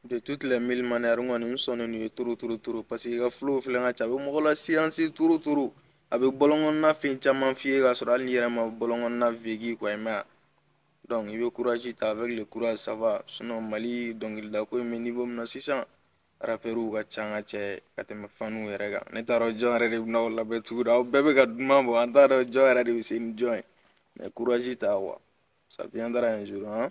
de toutes les mille manières n kɔni n sɔnnen don ye trop trop trop parce que i ka flow filɛ ka ca a bɛ mɔgɔ la siyansi trop trop a bɛ bɔlɔnkɔnɔna fɛn caman f'i ye k'a sɔrɔ hali n'i yɛrɛ ma bɔlɔnkɔnɔna vécu quoi i m'a ye donc i bɛ courage ta avec le courage ça va sinon mali dɔnkilidako in bɛ niveau min na sisan rapɛriw ka ca an ka ca ka tɛmɛ faniw yɛrɛ kan ne t'a dɔn jɔn yɛrɛ de bɛna aw lamɛn tugun aw bɛɛ bɛ ka duman bɔ an t'a dɔn jɔn yɛrɛ de bɛ se ni jɔn ye mais courage ta quoi ça viendra un jour hein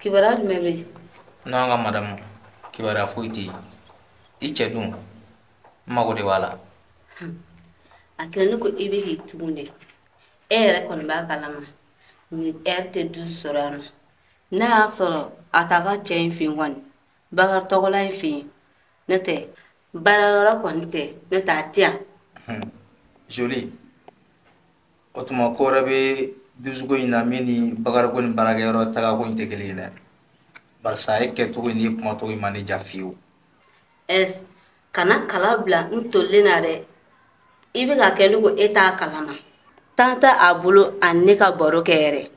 kibaruya jumɛn bɛ yen n'an ka madamu kibaruya foyi tɛ yen i cɛ dun n mago de b'a la a kɛlen ne ko i bɛ k'i tugu dɛ e yɛrɛ kɔni b'a kalama nin heure tɛ dusu sɔrɔ yan nɔ n'a y'a sɔrɔ a t'a ka cɛ in fɛ yen kɔni bakari tɔgɔla in fɛ yen n'o tɛ baarayɔrɔ kɔni tɛ n'o tɛ a tɛ yan joli o tuma ko wɛrɛ bɛ dusuko in na min ni bakari ko ni baarakɛyɔrɔ tagako in tɛ kelen ye dɛ barisa e kɛcogo in n'i kumacogo in ma ne ja fiyewu ɛs kana kala bila n tolilen na dɛ i bɛ ka kɛ ne ko e t'a kalama temps tɛ a bolo a ni ne ka baro kɛ yɛrɛ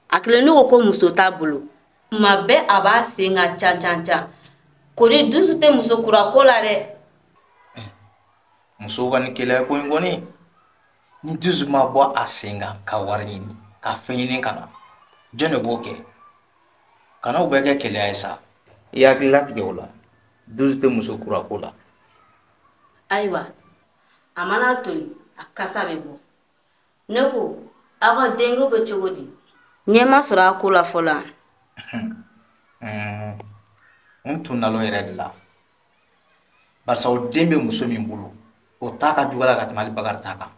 a kɛlen ne ko ko muso t'a bolo tuma bɛɛ a b'a sen kan can can can kori dusu tɛ muso kura ko la dɛ musow ka nin keleya ko in kɔni ni dusu ma bɔ a sen kan ka wari ɲini ka fɛn ɲini ka na jɔn de b'o kɛ kana o bɛɛ kɛ keleya ye sa i hakili latigɛ o la dusu tɛ muso kura ko la ayiwa a mana toli a kasa bɛ bɔ ne ko aw ka denko bɛ cogo di ɲɛ ma sɔrɔ a ko la fɔlɔ n tun nalen o yɛrɛ de la barisa o den bɛ muso min bolo o ta ka jugu a la ka tɛmɛ hali bakari ta kan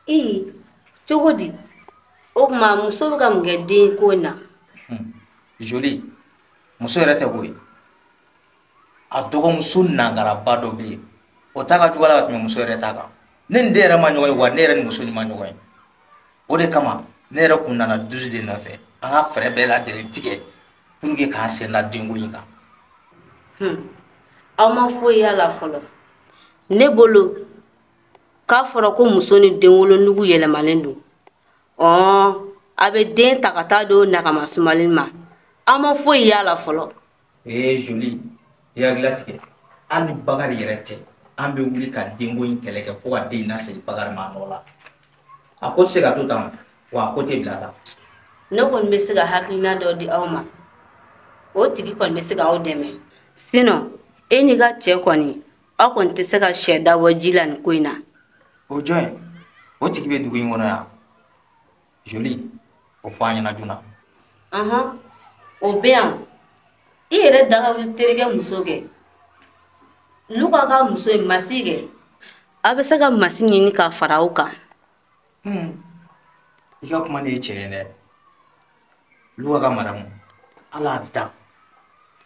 ee cogo di o tuma muso bɛ ka mun kɛ den ko in na hmm. joli muso yɛrɛ tɛ koyi a dɔgɔmuso nangaraba dɔ bɛ yen o ta ka jugu a la ka tɛmɛ muso yɛrɛ ta kan ne ni den yɛrɛ ma ɲɔgɔn ye wa ne yɛrɛ ni muso in ma ɲɔgɔn ye o de kama ne yɛrɛ kun nana dusu de nɔfɛ an ka fɛɛrɛ bɛɛ lajɛlen tigɛ pour que k'an sen da denko in kan hmm. aw ma foyi y'a la fɔlɔ ne bolo k'a fɔra ko muso ni den wolonugu yɛlɛmalen don ɔnhɔn a bɛ den ta ka taa don nagama sumalen ma aw ma foyi y'a la fɔlɔ ee joli i hakili latigɛ hali ni bakari yɛrɛ tɛ an bɛ wuli ka denko in kɛlɛ kɛ fo ka den in lasegin bakari ma nɔ la a ko tɛ se ka to tan wa a ko tɛ bila tan ne kɔni bɛ se ka hakilina dɔ di aw ma o tigi kɔni bɛ se ka aw dɛmɛ sinon e n'i ka cɛ kɔni aw kɔni tɛ se ka sɛ dabɔ ji la nin ko in na o jɔn ye o tigi bɛ dugu in kɔnɔ yan joli o fɔ an ɲɛna joona ɔhɔn o bɛ yan i yɛrɛ dagawuli terikɛ muso kɛ luka ka muso ye masi kɛ aw bɛ se ka masi ɲini ka fara aw kan hmm. i ka kuma de ye tiɲɛ ye dɛ luka ka madamu ala dan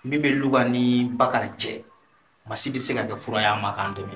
min bɛ luka ni bakari cɛ masi bɛ se ka kɛ fura y'a ma k'an dɛmɛ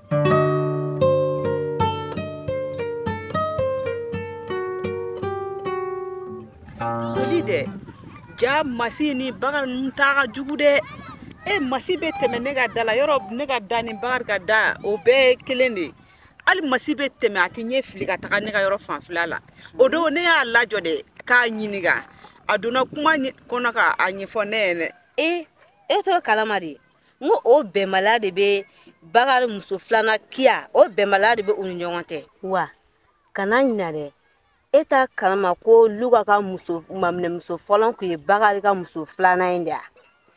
joli dɛ ja masi ni bakari ninnu ta ka jugu dɛ e masi bɛ tɛmɛ ne ka da la yɔrɔ ne ka da ni bakari ka da o bɛɛ kelen de hali masi bɛ tɛmɛ a tɛ ɲɛ fili ka taga ne ka yɔrɔ fanfɛla la o don ne y'a lajɔ de k'a ɲininka a donna kuma kɔnɔ ka a ɲɛfɔ ne ye dɛ e e t'o kalama de n ko o bɛnbaliya de bɛ bakari muso filanan kiya o bɛnbaliya de bɛ u ni ɲɔgɔn cɛ wa kana ɲina dɛ e t'a kalama ko luka ka maminɛmuso fɔlɔ tun ye bakari ka muso filanan in de ye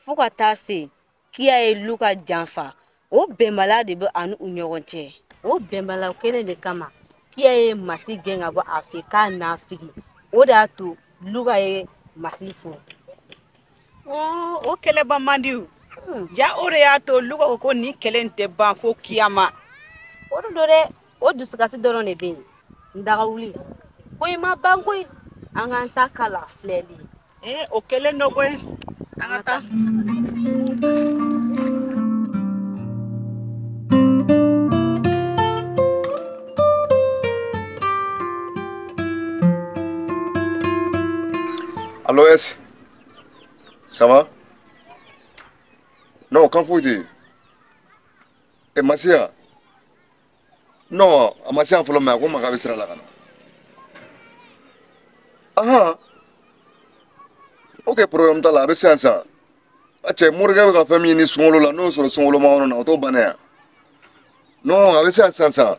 fo ka taa se kiya ye luka janfa o bɛnbaliya de bɛ a ni u ɲɔgɔn cɛ o bɛnbaliya kelen de kama kiya ye masi gɛn ka bɔ a fɛ k'a n'a figi o de y'a to luka ye masi furu o kɛlɛ ban man di ja o de y'a to luka ko ko nin kɛlɛ tɛ ban fo kiyama o de don dɛ o dusukasi dɔrɔn de bɛ yen ndagawuli ko i ma ban koyi an k'an ta kala filɛli ee o kɛlen don koyi an ka taa allô ɛsi ça va non kan foyi tɛ yen e ma se yan non a ma se yan fɔlɔ mais a ko n ma k'a bɛ sira la ka na ahan ok problème t'a la a bɛ se yan sisan a cɛ morikɛ bɛ ka fɛn min ɲini sunkalo la n'o sɔrɔ sunkalo ma na o t'o bannen ye non a bɛ se yan sisan sisan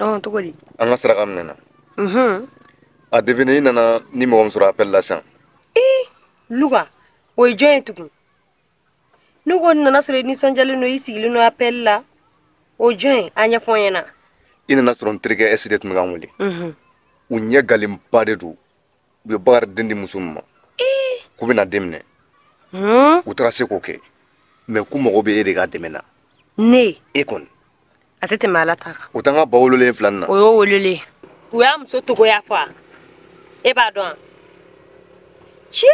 ɔn cogo di an ka saraka minɛna mhm. a deviner i nana ni mɔgɔ min sɔrɔ appel la sisan ee luka o ye jɔn ye tugun ne ko n nana sɔrɔ i nisɔndiyalen don i sigilen don appel la o jɔn ye a ɲɛfɔ n ɲɛna i nana sɔrɔ n terikɛ ɛsi de tun bɛ ka n wele u ɲɛ galenba de don u ye bakari den di muso min ma k'u bɛna den minɛ u tɛna se k'o kɛ mais k'u mago bɛ e de ka dɛmɛ na ne e kɔni a tɛ tɛmɛ ala ta kan o t'an ka ba wololen fila na o y'o wololen u y'a muso togoya fɔ a e b'a dɔn a ci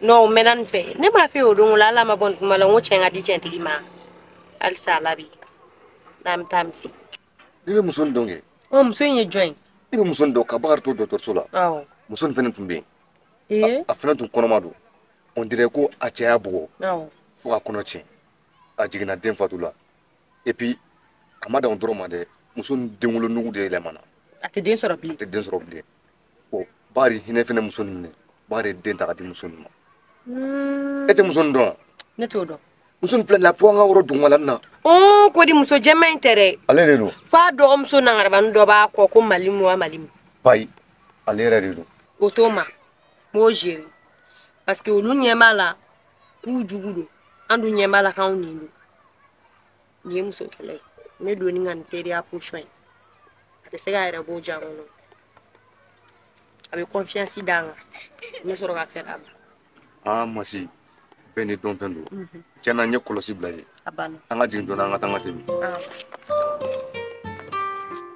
n'o mɛnna nin fɛ ne m'a fɛ o don la ala ma bɔ nin kuma la n ko cɛn ka di cɛntigi ma halisa ala bi n'an bɛ taa misi ne bɛ muso in dɔn kɛ ɔ muso in ye jɔn ye ne bɛ muso in dɔn ka bakari to dɔgɔtɔrɔso la awɔ muso in fana tun bɛ yen ee a fana tun kɔnɔma don on dirait ko a cɛ y'a bugɔ awɔ fo k'a kɔnɔ tiɲɛ a jiginna den fatu la et puis a ma dan o dɔrɔn ma dɛ muso in denwolonugu de yɛlɛmana a tɛ den sɔrɔ bilen a tɛ den sɔrɔ bilen bon ba de hinɛ fɛnɛ muso nin minɛ ba de ye den ta k'a di muso nin ma e tɛ muso nin dɔn wa ne t'o dɔn muso nin filɛ la fo an ka wɔrɔ dugumala nin na ɔn ko di muso jɛman in tɛ dɛ ale de don f'a dɔgɔmuso nangarabani dɔ b'a kɔ ko malimu wa malimu bayi ale yɛrɛ de don o tuma n b'o gérer parce que olu ɲɛ b'a la k'u jugu don an dun ɲɛ b'a la k'anw ɲin don nin ye muso kɛlɛ ye n bɛ don i kan ni teriya posɔn ye a tɛ se k'a yɛrɛ bɔ jan kɔnɔ a bɛ kɔnfiyansi da n kan n bɛ sɔrɔ ka fɛn d'a ma aa masi bɛɛ ni dɔnfɛn don tiɲɛ na n ye kɔlɔsi bila ye an ka jigin dɔɔni an ka taa an ka tɛmɛ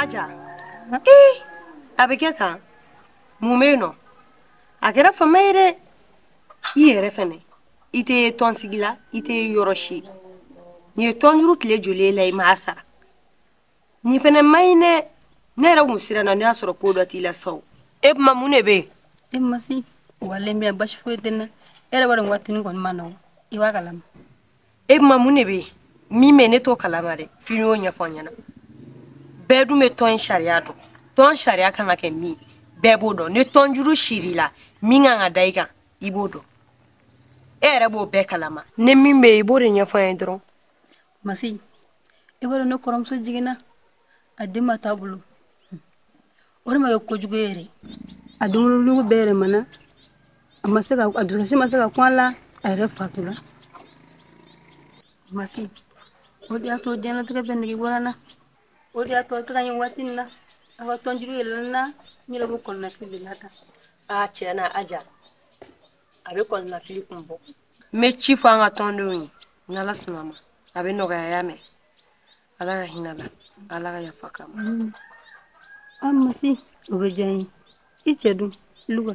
Aja. Eh, a bɛ kɛ tan. Mun bɛ yen nɔ? A kɛra fama ye dɛ. I yɛrɛ fɛnɛ. i tɛ tɔnsigi la i tɛ yɔrɔ si nin ye tɔnjuru tile joli la i m'a sara nin fana ma ɲi dɛ ne yɛrɛ kun siranna n'o y'a sɔrɔ ko dɔ t'i la sa e kuma mun de bɛ yen e masi walayi n bɛ basi foyi tɛ n na e yɛrɛ b'a dɔn waati nin kɔni man nɔgɔn i b'a kalama e kuma mun de bɛ yen min bɛ ne t'o kalama dɛ f'i y'o ɲɛfɔ n ɲɛna bɛɛ dun bɛ tɔn in sariya dɔn tɔn sariya kan ka kɛ min bɛɛ b'o dɔn ni tɔnjuru sirila min kan ka da i kan i b'o dɔn e yɛrɛ b'o bɛɛ kalama ni min bɛ i b'o de ɲɛfɔ an ye dɔrɔn masi i b'a dɔn ne kɔrɔmuso jiginna a den ma t'a bolo o de ma kɛ kojugu ye yɛrɛ a denwolonugu bɛɛ yɛlɛmana a ma se ka a dusukasi ma se ka kun a la a yɛrɛ fatula masi o de y'a to diɲɛlatigɛ bɛɛ nege bɔra n na o de y'a to a tɛ ka ɲɛ waati in na a ka tɔnjuru yɛlɛla n na n yɛrɛ b'o kɔlɔnafili de la tan a tiɲɛ na aja a bɛ kɔlɔnafili kun bɔ n bɛ ci fɔ an ka tɔndenw ye n'ala sɔnna ma a bɛ nɔgɔya y'a mɛn ala ka hinɛ la ala ka yafa k'a ma mm. an masi o bɛ diya n ye i cɛ dun luka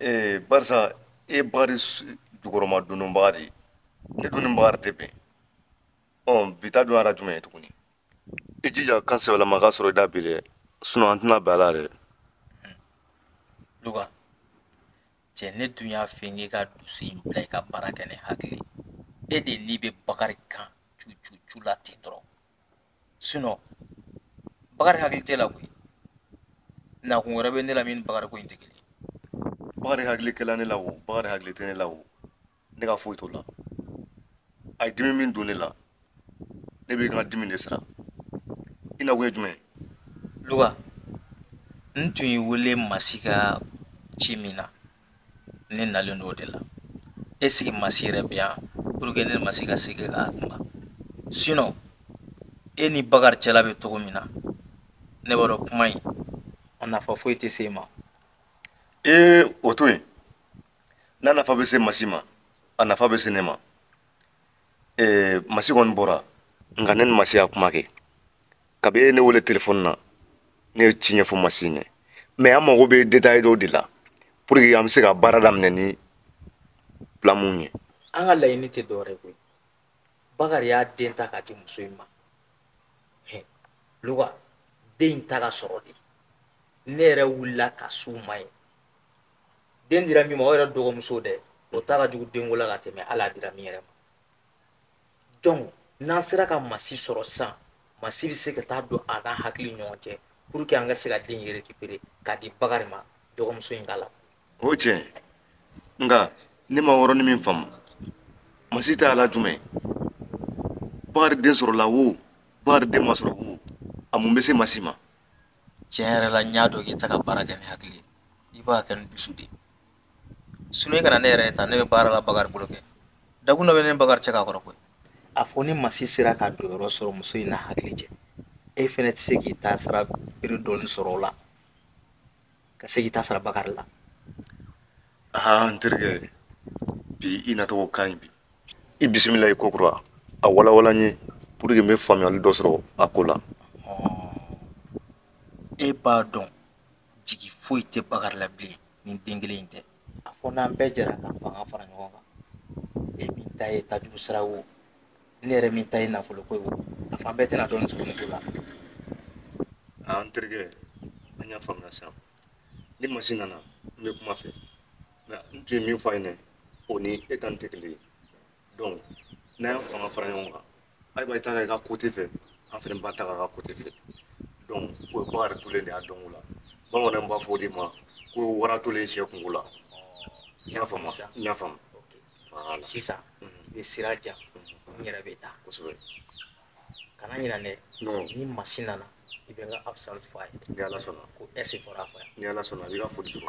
ee barisa e bakari jukɔrɔma dondonbaga de ne dun ni bakari tɛ bɛn ɔ bi ta dun a ra jumɛn ye tuguni i jija kan sɛbɛlama ka sɔrɔ i da bi dɛ sinon an tɛna bɛn a la dɛ luka cɛ ne dun y'a fɛ n k'e ka dusu in bila i ka baara kɛ ni hakili ye dɛ n'i bɛ bakari kan cucucu la ten dɔrɔn bakari hakili t'e la koyi nakun wɛrɛ bɛ ne la min ni bakari ko in tɛ kelen bakari hakili kɛla ne la o bakari hakili tɛ ne la o ne ka foyi t'o la a ye dimi min don ne la ne bɛ n ka dimi de sara i nakun ye jumɛn ye luka n tun y'i wele masi ka ci min na ne nalen don o de la est-ce que masi yɛrɛ bɛ yan pour que ne ni masi ka se k'a kuma sinon e ni bakari cɛla bɛ cogo min na ne b'a dɔn kuma in a nafa foyi tɛ se e ma ee o to yen n'a nafa bɛ se masi ma a nafa bɛ se ne ma ee masi kɔni bɔra nka ne ni masi y'a kuma kɛ kabi e ye ne wele telefɔni na ne ye ci ɲɛfɔ masi ye mais an mago bɛ détail dɔw de la pour que an bɛ se ka baara daminɛ ni plan mun ye an ka laɲini tɛ dɔwɛrɛ ye koyi bakari y'a den ta k'a di muso in ma luka den in tɛ ka sɔrɔ dɛ ne yɛrɛ wulila ka s'u ma yen den dira min ma o yɛrɛ dɔgɔmuso dɛ o ta ka jugu denko la ka tɛmɛ hali a dira min yɛrɛ ma donc n'an sera ka masi sɔrɔ sisan masi bɛ se ka taa don a n'a hakili ɲɔgɔn cɛ pour que an ka se ka den in récupérer k'a di bakari ma dɔgɔmuso in ka la o tiɲɛ nka ne ma yɔrɔnin min faamu masi ta a la jumɛn bakari den sɔrɔla wo bakari den ma sɔrɔ wo a mun bɛ se masi ma tiɲɛ yɛrɛ la n y'a dɔn k'i tɛ ka baara kɛ ni hakili ye i b'a kɛ ni dusu de ye sinon i kana ne yɛrɛ ta ne bɛ baara la bakari bolo kɛ dakun dɔ bɛ ne ni bakari cɛ k'a kɔrɔ koyi a fɔ ni masi sera ka don yɔrɔ sɔrɔ muso in n'a hakili cɛ e fɛnɛ tɛ se k'i ta sara biri dɔɔni sɔrɔ o la ka se k'i ta sara bakari la aa n terikɛ bi i nacogo ka ɲi bi i bisimila i kokura a walawala n ye pour que n bɛ faamuyali dɔ sɔrɔ a ko la e b'a dɔn jigi foyi tɛ bakari la bilen ni den kelen in tɛ a fɔ n'an bɛɛ jɛra k'an fanga fara ɲɔgɔn kan e min ta ye tajuru sira wo ne yɛrɛ min ta ye nafolo ko ye wo a fan bɛɛ tɛna dɔɔni sɔrɔ ko la n terikɛ an y'a faamuya sisan ni masi nana n bɛ kuma a fɛ nka n tun ye min fɔ a ɲɛna o ni e ta nin tɛ kelen ye donc n'an y'an fanga fara ɲɔgɔn kan ayiwa i ta kɛ i ka côté fɛ an fɛnɛ b'an ta k'an ka côté fɛ donc o ye bakari tolen de y'a dɔn o la bamananw b'a fɔ o de ma ko wara tolen sɛ kungo la n y'a faamu n y'a faamu sisan i bɛ sira di yan n yɛrɛ bɛ taa kosɛbɛ kana ɲinɛ dɛ ni masi nana i bɛ n ka absence fɔ a ye ni ala sɔnna ko ɛsi fɔra a kɔ yan ni ala sɔnna a b'i ka foli sɔrɔ